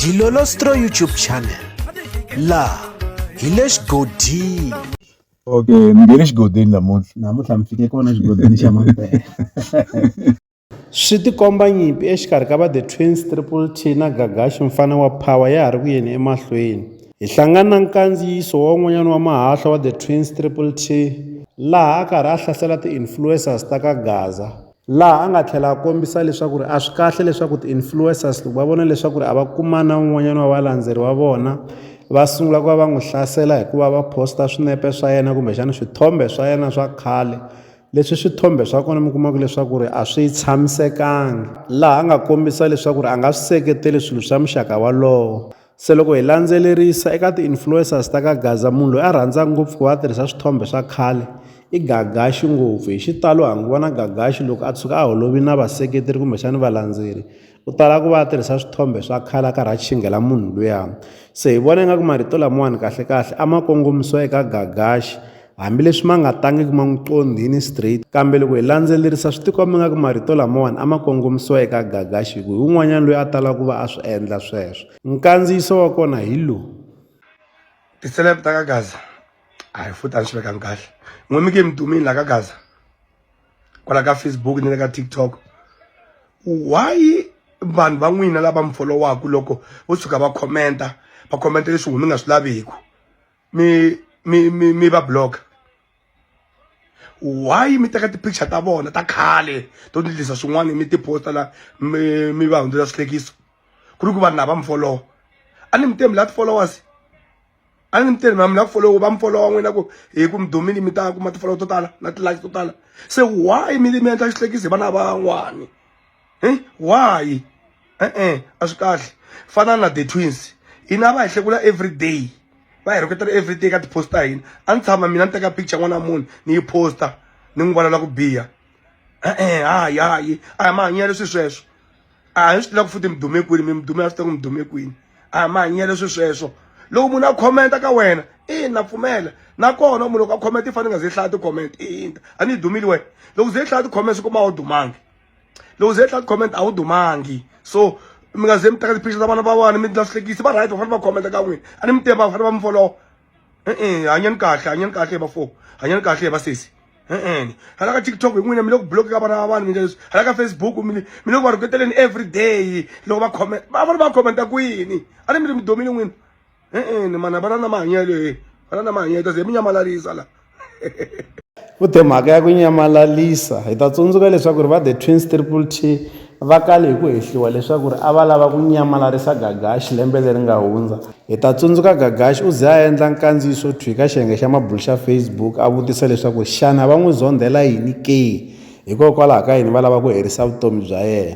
Dilolostro YouTube channel laha hi le xigodini okay ni nge le xigodini namuntlha namuntlha mi fike kona xigodini xa mampela swi tikomba nyimpi exikarhi ka va the twins triple t na gagaxi mfana wa power ya ha ri ku yeni emahlweni hi hlangana na nkandziyiso wa un'wanyana wa mahahla wa the twins triple t laha a karhi a hlasela ti-influencers ta ka gaza laha a nga tlhela a kombisa leswaku ri a swi kahle leswaku ti-influencers loko va vona leswaku ri a va kuma na un'wanyana wa valandzeri wa vona va sungula ku va va n'wi hlasela hikuva va post-a swinepe swa yena kumbexana swithombe swa yena swa khale leswi swithombe swa kona mi kumaka leswaku ri a swi tshamisekanga laha a nga kombisa leswaku ri a nga swi seketeli swilo swa muxaka walowo Se loko hi landzelerisa eka ti-influencers ta ka Gaza munhu loyi a rhandza ngopfu ku va a tirhisa swithombe swa khale i Gagaxi ngopfu hi xitalo ha n'wi vona Gagaxi loko a tshuka a holovi na vaseketeri kumbexani valandzeri u tala ku va a tirhisa swithombe swa khale a karhi a xinghela munhu luya se hi vona ingaku marito lamawani kahlekahle a ma kongomisiwa eka Gagaxi Hambileswi ma nga tangiki ma n'wi qondhini straight, kambe loko hi landzelerisa swi tikomba nga ku marito lamawani a ma kongomisiwa eka Gagashi hi ku hi un'wanyana loyi a talaka ku va a swi endla sweswo. Nkandziyiso wa kona hi lowu. Ti-celeb ta ka Gaza a hi futhi a ni swi vekanga kahle n'we mi ke mi dumile la ka Gaza kwala ka Facebook ni le ka TikTok why vanhu va n'wina lava mi followaku loko vo tshuka va khomenta va khomenta leswi n'we mi nga swi laviku. mi mi mi mi va block why mi teka ti-picture ta vona ta khale to ndlisa swin'wana mi ti-posta la mi mi va hundzela swihlekiso ku ri ku vanhu lava mi folowa a ni mi temi la ti-followers a ni mi temi mi la ku folowa va mi folowa n'wina ku hi ku mi dumile mi ta kuma ti-follow to tala na ti-like to tala se why mi mi endla xihlekiso hi vana van'wani e why e-e a swi kahle fana na the twins hina va hi hlekula everyday va hi rhuketela everyday ka ti-post ta hina a ni tshama mina ni teka picture n'wana wa munhu ni yi posta ni n'wi vonela ku biha e-e hayi hayi a hi mahanyelo swi sweswo a hi swi tiva ku futhi mi dume kwini mi mi dume a swi tiva ku mi dume kwini a hi mahanyelo swi sweswo loko munhu a khomenta ka wena ina pfumela nakona munhu loko a khomenta i fanele nga ze hlaya ti-comment ina a ni yi dumile wena loko ze hlaya ti-comment swi kuma a wu dumangi loko ze tlati comment a wu dumangi so mi nga ze mi teka tipicture ta vana va wani mi ndla swihlekisi va right va fanele va comment ka n'wina a ni mi tiva va fanele va mi follow e-e hanyani kahle hanyani kahle va fo hanyani kahle va sesi e-e hala ka tiktok hi n'wina mi le ku block ka vana va vanhu mi ndla leswi hala ka facebook mi le mi le ku va rhuketeleni every day loko va comment va fanele va commenta kwini a ni mi ri mi domile n'wina e-e ni mana va na na mahanyelo e va na na mahanyelo kasi hi mi nyamalarisa la u te mhaka ya ku nyamalalisa hi ta tsundzuka leswaku ri va the twins triple t va kale hi ku hehliwa leswaku ri a va lava ku nyamalarisa gagaxi lembe leri nga hundza hi ta tsundzuka gagaxi u ze a endla nkandziyiso thwi ka xiyenge xa mabulu xa facebook a vutisa leswaku xana va n'wi zondhela yini ke hikokwalaho ka yini va lava ku herisa vutomi bya yena